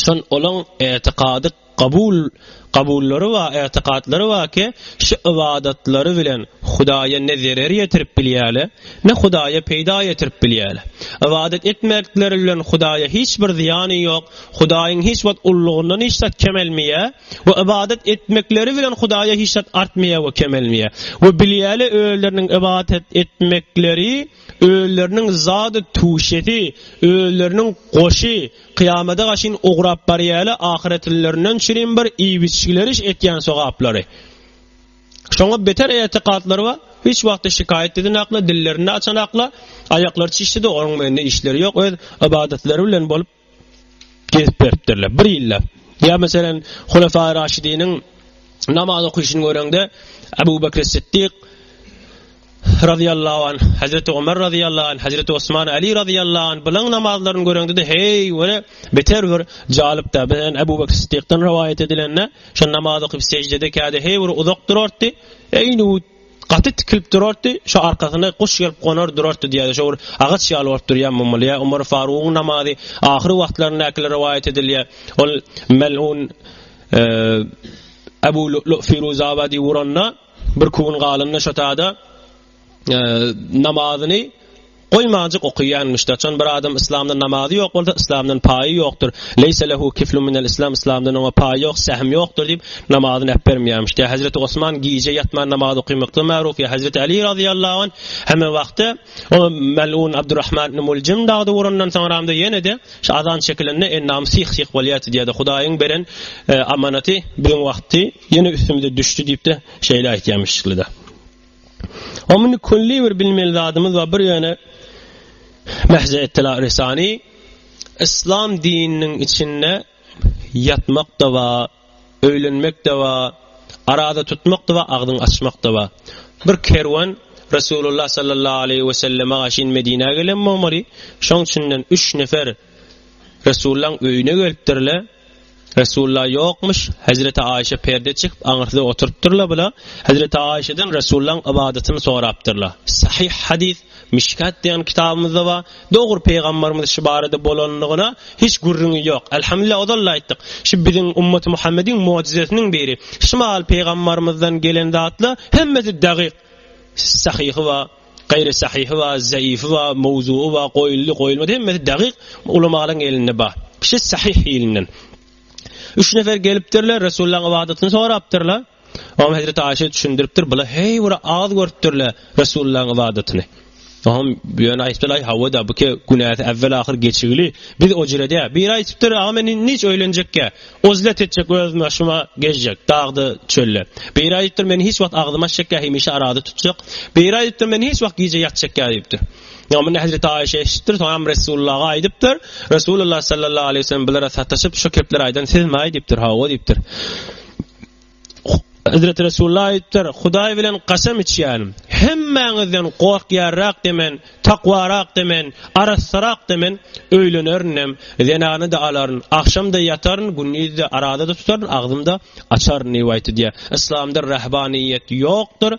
[SPEAKER 1] Şol olaň etikady kabul kabullary bar, etikatlary bar ki, şu ybadatlary bilen Hudaýa ne zerer ýetirip bilýärler, ne Hudaýa peýda ýetirip bilýärler. Ybadat etmekleri bilen Hudaýa hiç bir zyýany ýok, Hudaýyň hiç wagt ululygyndan hiç zat kemelmeýär. we ybadat etmekleri bilen Hudaýa hiç zat artmaýar we kemelmeýär. We bilýärler özleriniň ybadat etmekleri özleriniň zady tüşesi, özleriniň goşy, kyýamada gaşyn ugrap barýarlar ahyretlilerinden çirim bir iýbiçgileriş etýän sogaplary. Şoňa beter etikadlary bar, hiç wagtda şikaýat edinaklar, dillerini açanaklar, aýaklary çişdi-de onuň men işleri ýok, öz ybadatlary bilen bolup, gezip beripdirler. Bir ýyllap. Ýa meselem, Hulefai Raşidiniň namaz okyşyny göreňde, Abu Bakr Siddik razyýallahu anh, Hazreti Omar razyýallahu anh, Hazreti Osman Ali razyýallahu anh bilen namazlaryny göreňde-de, heý, göre, beter bir jalypda. Bilen Abu Bakr Siddikden rowaýat edilende, şo namaz okyp sejdede käde heý bir uzak durardy. Eýni Gaty tikilip durardy, şo arkasyna guş gelip gonar durardy diýýärdi, şo bir agaç ýaly bolup durýan bolmaly, ýa Omar Farugyň namazy ahyr wagtlaryndakylar rowaýat edilýär, ol mel'un Abu Lu'lu' Firuzabadi uranda, bir küwün galanda şo tada namazyny, Goýmajyk okaýanmyş daçan bir adam yslamda namazy ýok bolsa yslamdan paýy ýokdyr leýse lehu kiflun minel islam yslamdan oňa paý ýok sähm ýokdyr diýip namazyny äpbermýärmiş ýa hezreti osman gije ýatman namaz okaýmakda maruf ýa hezreti ali razyýallahu anh hemme wagtda o melun abdurahman ibn muljim dagdy urandan soňramda ýenede şu azan çekilende ennam sih sih bolýardy diýýärdi hudaýyň beren e, amanaty biziň wagtdy ýene üstümize düşdi diýipde şeýle aýtýarmyş şeýle O muny külli bir bilmeli zadymyz bar. Bir ýöne Mehze Ettela Risani Islam dininiň içinde ýatmak da bar, öýlenmek de bar, arada tutmak da bar, agzyň açmak da bar. Bir kerwen Resulullah sallallahu aleýhi we selleme gaşyn Medinä gelen bolmaly. Şoň üçinden üç nefer Resullaň öýüne gelipdirler. Resulullah ýokmyş, Hezreti Aişe perde çykyp aňyrsy oturypdyrla bula, Hezreti Aişeden Resulullaň ybadatyny sorapdyrla. Sahyh hadys, Mişkat diýen kitabymyzda bar, dogry Pygamberimiz şu barada bolanlygyna hiç gürrüňi ýok. Elhamdülillah ozal-da aýtdyk. Şu biziň ummaty Muhammediň mojizesiniň biri. Şu mahaly Pygamberimizden gelen zatlar hemmesi dagyk. Sahyhy bar. Gaýry sahyhy bar, zaýyfy bar, mowzugy bar, goýuldy, goýulmady, hemmesi dagyk ulamalaryň elinde bar. Kişi sahyh hilinden. Üç nefer gelipdirler, Resulullahyň ybadatyny sorapdyrlar. Oňa Hezreti Aişe düşündiripdir, bular heý bir agyz görüpdirler Resulullahyň ybadatyny. Oňa ýöne aýtdylar, hawa-da, bu ki günäsi äwwel-ahyr geçigili, biz o jire dä. Biri aýtdypdyr, aga men indi hiç öýlenjek ýa. Uzlet etjek özüme şuma gezjek dagda çölde Beýra diýipdir meni hiç wagt agzyma çek ýa hemişe arada tutjak Beýra diýipdir meni hiç wagt gije ýatjak ýa diýipdir. Ýa muny Hezreti Aýşe eşitipdir soňam Resulullaga aýdypdyr Resulullah sallallahu aleýhi we sellem bulara sataşyp şu kepleri aýdan sizmi aý diýipdir hawa diýipdir. Hezreti Resulullah aýdypdyr, Hudaý bilen gaşam içýärin, hemmäňizden gorkýarrakda men, takwarakda men, arassarakda men öýlenerinem, zenany-da alaryn, agşam-da ýataryn, gündiz-de arada-da tutaryn, agzym-da açaryn diýip aýt diýýär. Yslamda rahbanyýet ýokdur.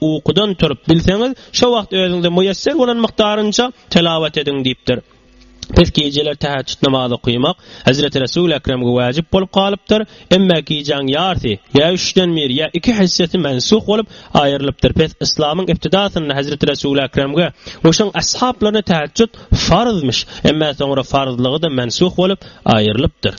[SPEAKER 1] Ukudan turup bilseňiz, şo wagt özüňize müýesser bolan mukdarynça telawat ediň diýipdir. Pes gijeler täheçjut namazy okymak Hezreti Resul Ekremge wajyp bolup galypdyr, emma gijäň ýarsy, ýa üçden biri, ýa iki hissesi mensuh bolup, aýrylypdyr. Pes yslamyň ibtidasynda Hezreti Resul Ekremge we şoň ashaplaryna täheçjut farzmyş, emma soňra farzlygy-da mensuh bolup, aýrylypdyr.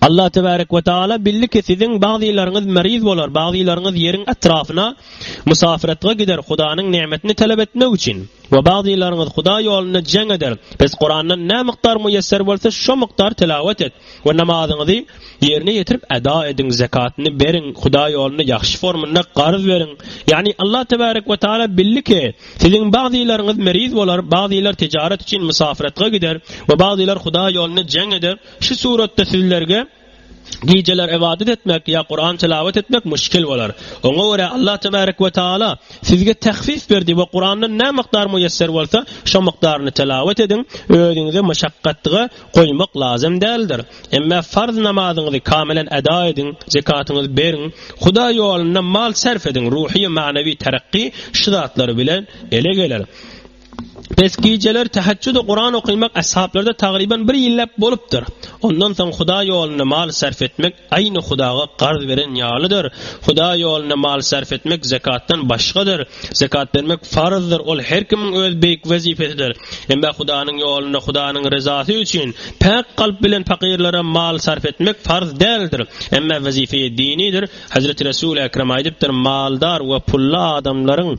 [SPEAKER 1] Allah tebarek we taala bildi ki siziň bagzylaryňyz meriz bolar, bagzylaryňyz ýeriň etrafyna musafiretge gider Hudanyň nemetini talap etmek üçin we bagzylaryňyz Huda ýolunda jeň eder. Biz Kurandan nä mukdar muýesser bolsa şo mukdar tilawet et we namazyňyzy ýerine ýetirip eda ediň, zekatyny beriň, Huda ýolunda ýagşy formunda garz beriň. Ýagny Allah tebarek we taala bildi ki siziň bagzylaryňyz meriz bolar, bagzylar tijaret üçin musafiretge gider we bagzylar Huda ýolunda jeň eder. Şu suratda sizlerge gijeler ybadat etmek ýa Kuran tilawet etmek muşkil bolar. Oňa görä Allah tebarek we taala sizge tahfif berdi we Kurandan nä mukdar muýesser bolsa şo mukdaryny tilawet ediň, özüňizi muşakgatga goýmak lazym däldir. Emme farz namazyňyzy kamilen eda ediň, zekatyňyzy beriň, Hudaý ýolunda mal sarf ediň, ruhy, manawi tarakki şu zatlar bilen ele geler. Pes gijeler tahajjud we Kuran okymak ashablarda tagriban bir ýyllap bolupdyr. Ondan soň Huda ýolunda mal sarf etmek aýny Hudaga garz beren ýalydyr. Huda ýolunda mal sarf etmek zakatdan başgadyr. Zakat bermek farzdyr, ol her kimiň öz beýik wezipesidir. Emma Hudanyň ýolunda Hudanyň ryzasy üçin päk kalp bilen pakyrlara mal sarf etmek farz däldir. Emma wezipe dinidir. Hazreti Resul Ekrem aýdypdyr, Maldar we pully adamlaryň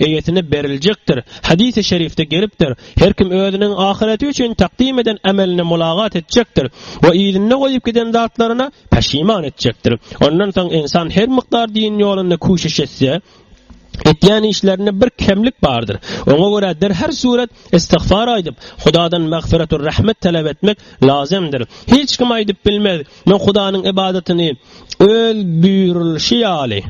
[SPEAKER 1] Eýesine beriljekdir. Hadys-y şerifde gelipdir, Her kim özüniň ahyreti üçin takdym eden ämeline mulagat etjekdir we yzynda goýup giden zatlaryna peşiman etjekdir. Ondan soň ynsan her mukdar din ýolunda küşüş etse, etýän işlerinde bir kemlik bardyr. Oňa görä derher surat istigfar aýdyp, Hudadan magfyrat we rahmet talap etmek lazymdyr. Hiç kim aýdyp bilmez, Men Hudanyň ybadatyny Öz buýrulyşy ýaly,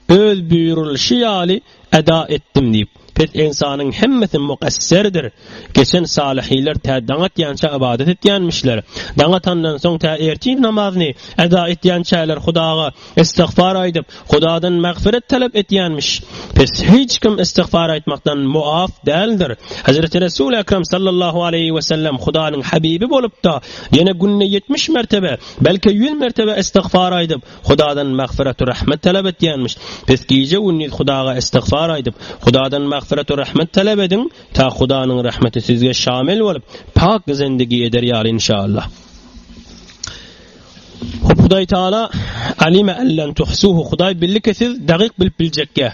[SPEAKER 1] Öz buýrulyşy ýaly eda etdim diýip, pes ynsanyň hemmesi mugasserdir. Geçen salyhylar tä daň atýança ybadat etýänmişler. Daň atandan soň tä ertir namazyny eda etýänçäler Hudaga istigfar aýdyp, Hudadan magfyrat talap etýänmiş. Pes hiç kim istigfar aýtmakdan muap däldir. Hezreti Resul Ekrem sallallahu aleýhi we sellem Hudanyň habibi bolup-da, ýene günde ýetmiş mertebe, belki ýüz mertebe istigfar aýdyp, Hudadan magfyrat we rahmet talap etýänmiş. Pes gije gündiz Hudaga istigfar aýdyp, Hudadan magfyrat we rahmet talap ediň, ta Hudanyň rahmeti sizge şamil bolup, pak zendigi eder ýaly inşallah. Hudaý Taala Alime en len tuhsuhu Hudaý bildi ki siz dagyk bilip biljekge.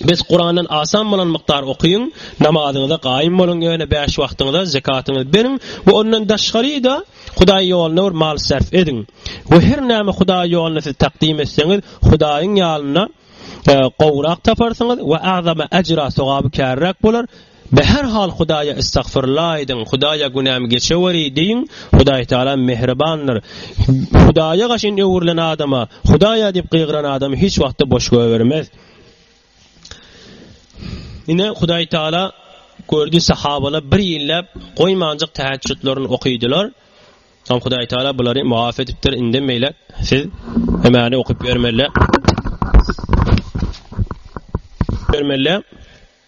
[SPEAKER 1] Bes Kurandan asan bolan mukdar okyň, namazyňyza gaýym boluň ýöne bäş wagtyňyza zekatyňyzy beriň we ondan daşgaryda Hudaý ýolunda bir mal sarf ediň we her näme Hudaý ýolunda siz takdym etseňiz Hudaýyň ýalynda gowrak taparsyňyz we agzama ejra sogaby kärräk bolar Be her hal Hudaýa istagfyrla aýdyň, Hudaýa günämi geçeweri diýiň, Hudaý Tagala mähribandyr. Hudaýa gaşyn öwrülen adama, Hudaýa diýip gygyran adamy hiç wagtda boş goýbermez. Ine Hudaý Tagala gördi sahabalar bir ýylläp goýmanjyk täheçjutlaryny okydylar. Soň Hudaý Tagala bulary mugaf edipdir. Inde meýle siz hemani okyp ýörmeli. Ýörmeli.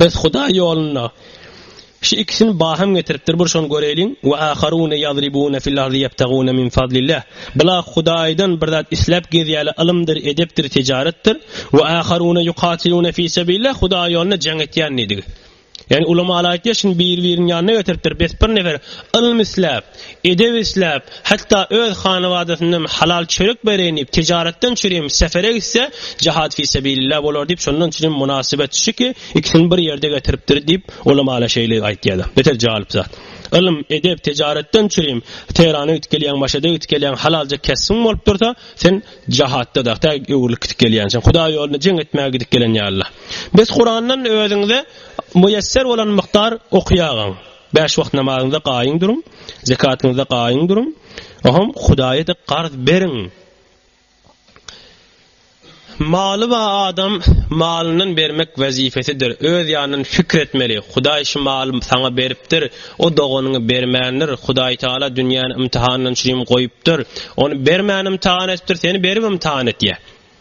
[SPEAKER 1] Biz Hudaý ýolunda Şu ikisini baham getiripdir bir şony göreýliň we aharune ýazribune fil ardi ýebtagune min fadlillah Bular Hudaýdan bir zat isläp gezýärler ylymdyr edepdir tijaretdir we aharune ýukatilune fi sebillah Hudaý ýolunda jeň etýän diýdigi. Ýagny ulamalar aýtýar şuny biri biriniň ýanyna getiripdir bes bir nefer ylym isläp Edep isläp, hatda öz hanabadasyndam halal çörek bereýin diýip, tijaratdan çürim sefere gitse, jahat fi sebilillah bolar diýip, şondan çürim mynasybet şu ki, ikisini bir ýerde getiripdir diýip, ulamalar şeýle aýtýarlar. Beter jalyp zat. Ylym, edep, tijaratdan çürim, Tehrana gidip gelýäň, Maşada gidip gelýäň, halalja kesbiň bolup dursa, sen jahatda da, tä öwrülip gidip gelýänçiň. Hudaý ýolunda jeň etmäge gidip gelen ýalyla. Bes Kurandan özüňize müýesser bolan mukdar okýagaň. Bäş wagt namazyňyzda gaýyň duruň, zekatyňyzda gaýyň duruň, oňam Hudaýa-da garz beriň. Maly bar adam malyndan bermek wezipesidir. Öz ýanyndan pikir etmeli. Hudaý şu maly saňa beripdir. O doganyňy bermändir. Hudaý Taala dünýäni ymtyhanlançrym goýupdyr. Ony bermän ymtyhan etipdir, seni berip ymtyhan etýär.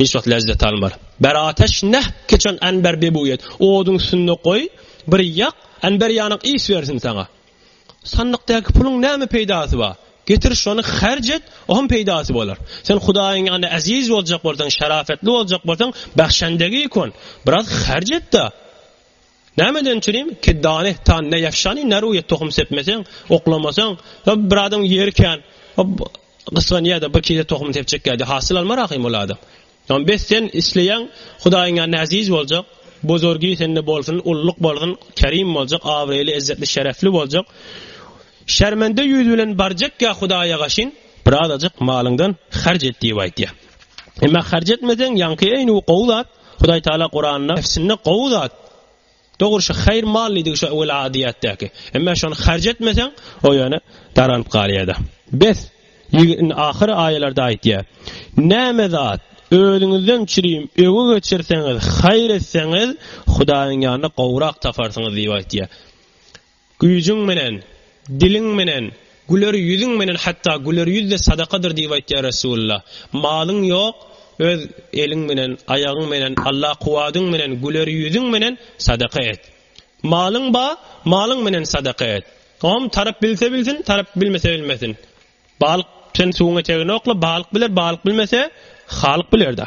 [SPEAKER 1] Hiç wagt lezzet almar. Ber ateş näh keçen anber bebu et. Oduň üstünde goý, bir ýak, anber ýanak is bersin saňa. Sandykdaky puluň näme peýdasy bar? Getir şony herc et, oňam peýdasy bolar. Sen Hudaýyň ýanynda eziz boljak bolsaň, şarapetli boljak bolsaň, bähşendegi ikon, biraz herc et-de. Nämeden çürim kedane tan ne yaşani ne ruye tohum sepmeseň, oklamasaň, bir adam ýeri kän, gysganýar da bir kile tohum sepjek ýa-da hasyl almar ahym ol adam. Ýa bes sen isleýäň Hudaýyň ýanynda äziz boljak, bozorgy sende bolsun, ulluk bolsun, kerim boljak, abraýly, ezzetli, şerefli boljak. Şermende ýüz bilen barjak ýa Hudaýa gaşyn, birazajyk malyňdan harc et diýip aýtýar. Emma harc etmeseň, ýaňky eýni gowy zat, Hudaý Taala Kuranda nefsinde gowy zat, dogry şu haýr mal diýdigi şu wela diýätdäki. Emme şony harc etmeseň, o ýöne daranyp galýada. Bes, ýigin ahyr aýalarda aýtýa. Näme zat, özüňizden çürim öwi geçirseňiz, haýr etseňiz, Hudaýyň ýanynda gowrak taparsyňyz diýip aýtýa. Güýjüň menen, diliň menen, güler ýüzüň menen hatda güler ýüz-de sadakadyr diýip aýtýar Resulullah. Malyň ýok, öz eliň menen, aýagyň menen, Alla kuwadyň menen, güler ýüzüň menen sadaka et. Malyň ba, malyň menen sadaka et. Oňam tarap bilse bilsin, tarap bilmese bilmesin. Balyk sen suwuň etegini okla, balyk biler, balyk bilmese, Halyk biler-da.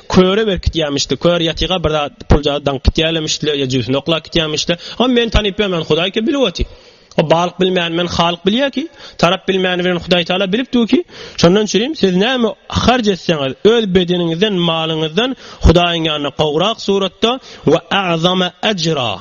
[SPEAKER 1] Köre berkitýämişdi. Kör ýatyga bir zat, puljady daňyp gitýälemişdi-le ýa jübüsini oklap gitýämişdi-le. Ony meni tanyp bilmän Hudaý kim bilip otyr? O balyk bilmän meni Halyk bilýär ki, tarap bilmäni bilen Hudaý Taala bilip dur ki, şondan çürim siz näme harç etseňiz, öz bedeniňizden, malyňyzdan Hudaýyň ýanyna gowrak suratda we a'zama ajra,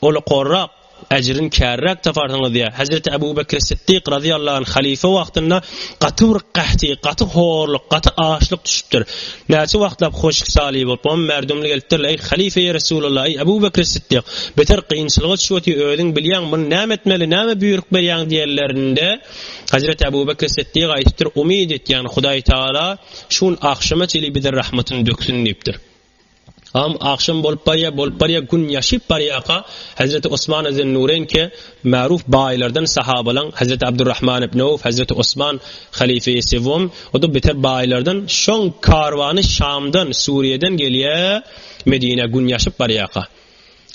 [SPEAKER 1] ola gorrak, Äjrini käriräk taparsyňyz diýýär. Hezreti Ebu Bekir Siddik razyýallahu anh halyfa wagtynda gaty bir gahti, gaty horluk, gaty açlyk düşüpdir. Näçe wagtlap hoşik saly bolup, oňa märdumly gelipdirler, Eý, halyfa-eý Resulallah, eý, Ebu Bekir Siddik, beter kynçylyga düşüp otyr, özüň bilýäň, muny näme etmeli, näme büýrük berýäň diýenlerinde, Hezreti Ebu Bekir Siddik aýdypdyr, Umyt et, ýagny Hudaý Tagala şu gün agşama çenli bize rahmatyny döksün diýipdir. Am agşam bolup barýa, bolup barýa, gün ýaşyp barýaka, Hezreti Osmana Zennureýn ke, maruf baýlardan sahabalaň Hezreti Abdurrahman ibn Awf, Hezreti Osman halife-i sewwom, o-da beter baýlardan, şoň karwany Şamdan, Suriýeden gelýä Medinä, gün ýaşyp barýaka.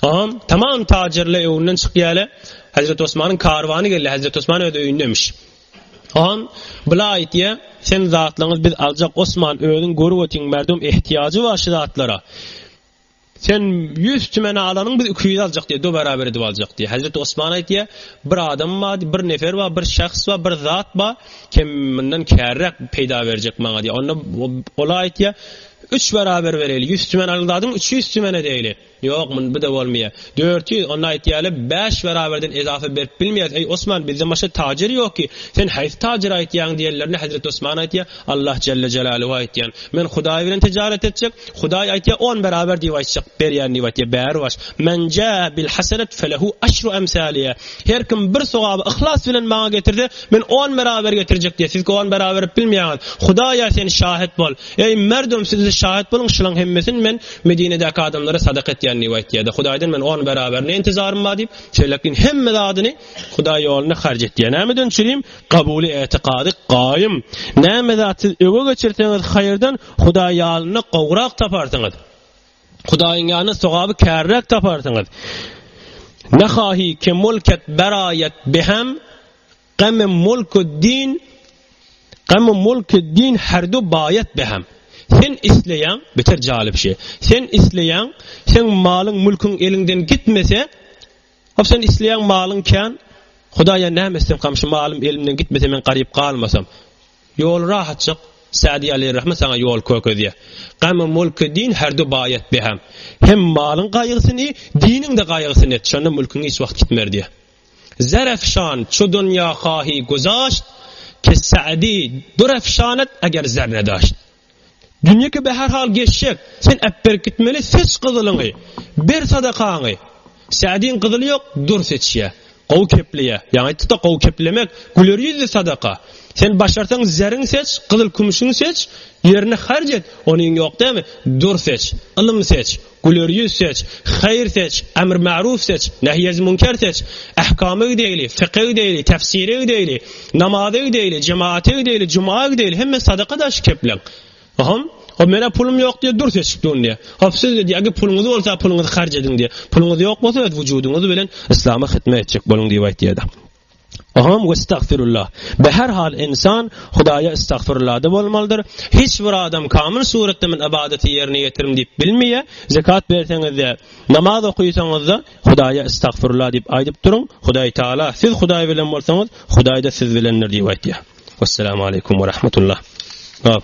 [SPEAKER 1] Am tamam tajirle öwünden çykýale, Hezreti Osmanyň karwany gelýä, Hezreti Osman öz öýünde imiş. Hon, bile aýtýa, sen zatlaňyz biz aljak Osman özüň görüp otyň merdum ehtiýajy bar şu zatlara. Sen ýüz tümene alanyň biz iki ýüz aljak diýe do beraber edip aljak diýe. Hezreti Osman aýtýa, bir adam bar diýe, bir nefer bar, bir şahs bar, bir zat bar, kem mundan kärräk peýda berjek maňa diýe. Onda ol aýtýa, üç beraber bereýli, ýüz tümen alan zadyň üç ýüz tümene deýli. Ýok, muny bi-de bolmaýar. Dört ýüz, onda aýtýaly, bäş beraberden ezafa berip bilmeýäs. Eý, Osman, bizde maşa tajer ýok ki, sen haýsy tajere aýtýaň? diýenlerinde Hezreti Osman aýtýar, Allah jelle jelaluhu aýtýan. Men Hudaý bilen tijaret etjek. Hudaý aýtýar, on beraber diýip aýtjak, berýän diýip aýtýar. Bäri baş. Men jaa bil hasenet felehu aşru emsaliha. Her kim bir sogaby yhlas bilen maňa getirse, men on beraber getirjek diýýär. Siz-ki on beraber berip bilmeýäňiz. Hudaý ýa sen şahet bol. Eý, merdum, siz-de şahet boluň, şulaň hemmesini men Medinedäki adamlara sadaka etýän Niwaýt diýýärdi. Hudaýdan men on beraberine intizarym bar diýip, Selekin hemme zadyny Hudaý ýolunda harç etýär. Näme dön çürim, gabuly etikady gaýym. Näme zat siz öňe geçirseňiz haýyrdan Hudaý ýalynda gowrak taparsyňyz. Hudaýyň ýanynda sogaby kärräk taparsyňyz. Nahahi kemul ket beraýat behem Qame Mulkuddin Qame Mulkuddin herdu bayat behem. Sen isleýäň, beter jalyp şey. Sen isleýäň, sen malyň mülküň eliňden gitmese, hop sen isleýäň malyň kän, Hudaýa näme etsem, kamşy malym elimden gitmese men garyp galmasam. Ýol rahatjyk, Sadi Ali Rahman sana ýol kökezýär. Qame Mulkuddin herdu bayat behem. Hem malyň gaýgysyny, diniň de gaýgysyny et, şonda mülküň hiç wagt gitmer diýär. Zerefşan, çu dünýä kahi güzaşt, Kes Sa'di, dürefşanat eger zerre daşt. Dünýe ki be her hal geçjek, sen äpberip gitmeli seç gyzylyňy, ber sadakaňy. Sa'diň gyzyly ýok, dür seçýä, gowy kepleýä, ýaňy aýtdykda gowy keplemek, güler ýüzli sadaka. Sen başarsaň zeriň seç, gyzyl-kümüşiň seç, ýerine harç et, onyň ýok dämi, dür seç, ylym seç, Güler ýüz seç, haýyr seç, emr märuw seç, nehy ez münker seç, ähkama gidäýli, fyka gidäýli, tefsire gidäýli, namaza gidäýli, jemaata gidäýli, juma gidäýli, hemme sadaka daşy kepleň. Hom, hop men-ä pulum ýok diýýär, dur seçip durun diýýär. Hop siz diýýär, agi puluňyz bolsa puluňyzy harç ediň diýýär. Puluňyz ýok bolsa öz wujudyňyz bilen Yslama hytmet etjek boluň diýip aýtýar-da. Ohoom westagfirullah. Bi her hal insan Hudaýa istagfirulada bolmalydyr. Hiç bir adam kamyl suratda men ybadaty ýerine ýetirim diýip bilmeýä. Zekat berseňizde, namaz okysaňyzda Hudaýa istagfirullah diýip aýdyp duruň. Hudaý Taala siz Hudaý bilen bolsaňyz, Hudaýda siz bilendir diýip aýtýar. Wessalamu aleýkum we rahmetullah. Op.